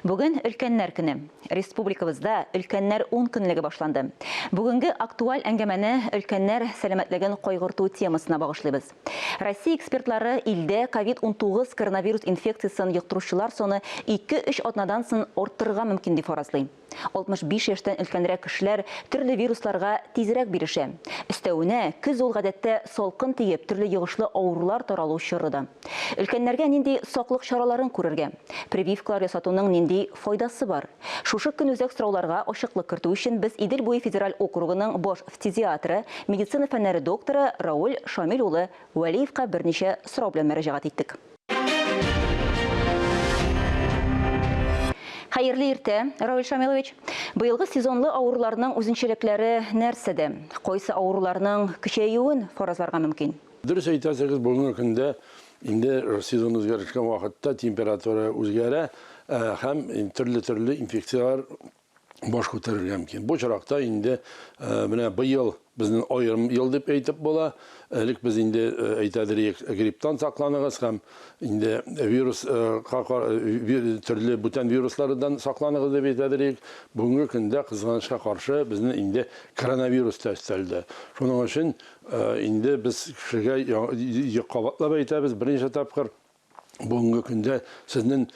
Бүген өлкәннәр көне. Республикабызда Өлкәннәр ун көнлеге башланды. Бүгенге актуаль әңгәмәне өлкәннәр сәламәтлеген кайгырту темасына багышлыйбыз. Россия экспертлары илдә ковид-унтугыз коронавирус инфекциясен йоктыручылар саны ике-өч атнадан сон арттырырга мөмкин дип фаразлый. 65 яшьтән өлкәнрәк кешеләр төрле вирусларга тизрәк бирешә. Өстәвенә, көз ул гадәттә салкын тиеп, төрле йогышлы авырулар таралу чоры да. Өлкәннәргә нинди саклык чараларын күрергә? Прививкалар ясатуның нинди файдасы бар? Шушы көнүзәк сорауларга ачыклык кертү өчен без Идел буе федераль округының баш фтизиатры, медицина фәннәре докторы Рауль Шамил улы Вәлиевка берничә сорау белән мөрәҗәгать иттек. Хәерле иртә, Равил Шамилович. Быелгы сезонлы авыруларның үзенчәлекләре нәрсәдә? Кайсы авыруларның көчәюен фаразларга мөмкин? Дөрес әйтәсегез, бүгенге көндә инде сезон үзгәрешкән вакытта температура үзгәрә һәм төрле-төрле инфекцияләр баш күтәрергә мөмкин. Бу чаракта инде менә быел безнең аерым ел дип әйтеп була. Элек без инде әйтәдер идек, грипптан сакланыгыз һәм инде вирусга төрле бүтән вируслардан сакланыгыз дип әйтәдер идек. Бүгенге көндә кызганычка каршы безнең инде коронавирус та өстәлде. Шуның өчен инде без кешегә кабатлап әйтәбез, берничә тапкыр бүгенге көндә сезнең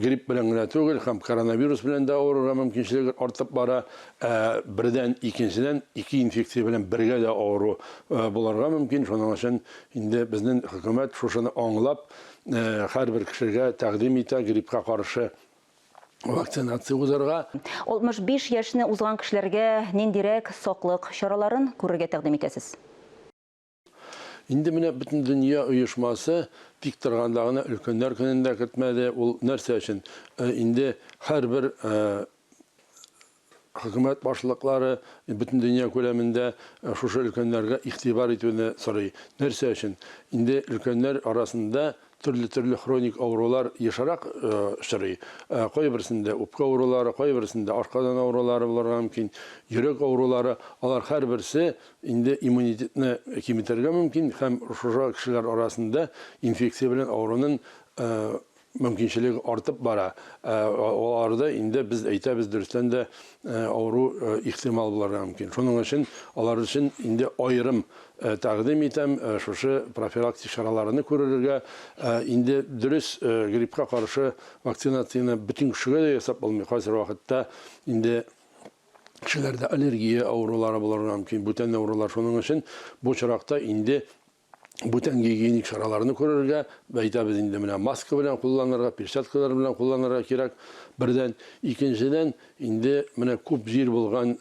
грипп белән генә түгел, һәм коронавирус белән дә авырырга мөмкинчелеге артып бара. Ә бердән, икенчедән, ике инфекция белән бергә дә авыру булырга мөмкин. Шуның өчен инде безнең хөкүмәт шушыны аңлап, һәрбер кешегә тәкъдим итә гриппка каршы вакцинация узарга. 65 яшьне узган кешеләргә ниндирәк саклык чараларын күрергә тәкъдим итәсез? Инде менә Бөтендөнья оешмасы тик торганда гына өлкәннәр көнен дә кертмәде. Ул нәрсә өчен? Инде һәрбер хөкүмәт башлыклары Бөтендөнья күләмендә шушы өлкәннәргә игътибар итүне сорый. Нәрсә өчен? Инде өлкәннәр арасында Төрле-төрле хроник авырулар ешрак очрый. Кайберсендә үпкә авырулары, кайберсендә ашказан авырулары булырга мөмкин, йөрәк авырулары. Алар һәрберсе инде иммунитетны киметергә мөмкин һәм шушы кешеләр арасында инфекция белән авырунын мөмкинчелеге артып бара. Аларда инде без әйтәбез, дөрестән дә авыру ихтимал булырга мөмкин. Шуның өчен алар өчен инде аерым Тәкъдим итәм шушы профилактик чараларны күрелергә. Инде дөрес, гриппка каршы вакцинацияне бөтен кешегә дә ясап булмый. Кайсы вакытта инде кешеләрдә аллергия авырулары булырга мөмкин, бүтән авырулар. Шуның өчен бу очракта инде бүтән гигиеник чараларны күрергә, әйтәбез инде, менә маска белән кулланырга, перчаткалар белән кулланырга кирәк, бердән. Икенчедән, Инде менә күп җир булган,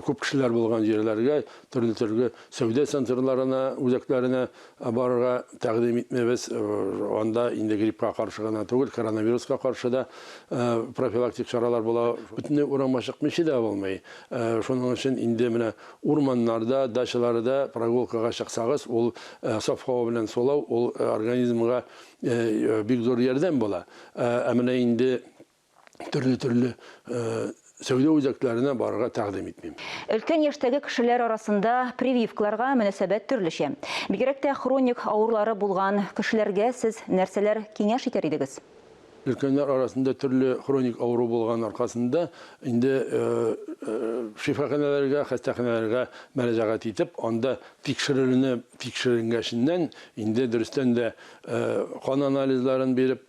күп кешеләр булган җирләргә, төрле-төрле сәүдә центрларына, үзәкләренә барырга тәкъдим итмибез. Анда инде гриппка каршы гына түгел, коронавируска каршы да профилактик чаралар була. Бөтенләй урамга чыкмыйча да булмый. Шуның өчен инде менә урманнарда, дачаларда прогулкага чыксагыз, ул саф һава белән сулау, ул организмга бик зур ярдәм була. Ә менә инде төрле-төрле сәүдә үзәкләренә барырга тәкъдим итмим. Өлкән яшьтәге кешеләр арасында прививкаларга мөнәсәбәт төрлечә. Бигрәк тә хроник авырулары булган кешеләргә сез нәрсәләр киңәш итәр идегез? Өлкәннәр арасында төрле хроник авыру булган аркасында инде шифаханәләргә, хастаханәләргә мәрәҗәгать итеп, анда тикшерелүне тикшеренгәченнән, инде дөрестән дә Кан анализларын биреп,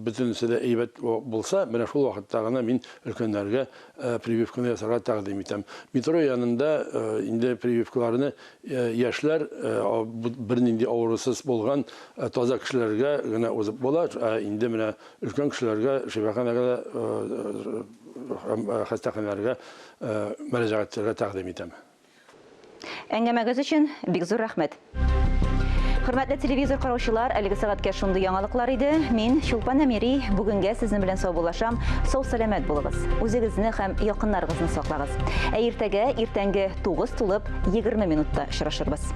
бөтенесе дә әйбәт булса, менә шул вакытта гына мин өлкәннәргә прививканы ясарга тәкъдим итәм. Метро янында инде прививкаларны яшьләр, бернинди авырусыз булган таза кешеләргә генә узып була. Ә инде менә өлкән кешеләргә шифаханәгә дә һәм хастаханәләргә мөрәҗәгать итәргә тәкъдим итәм. Әңгәмәгез өчен бик зур рәхмәт. Хөрмәтле телевизор караучылар, әлеге сәгатькә шундый яңалыклар иде. Мин Чулпан Әмири, бүгенгә сезнең белән саубуллашам. Сау-сәламәт булыгыз. Үзегезне һәм якыннарыгызны саклагыз. Ә иртәгә, иртәнге 9 тулып 20 минутта очрашырбыз.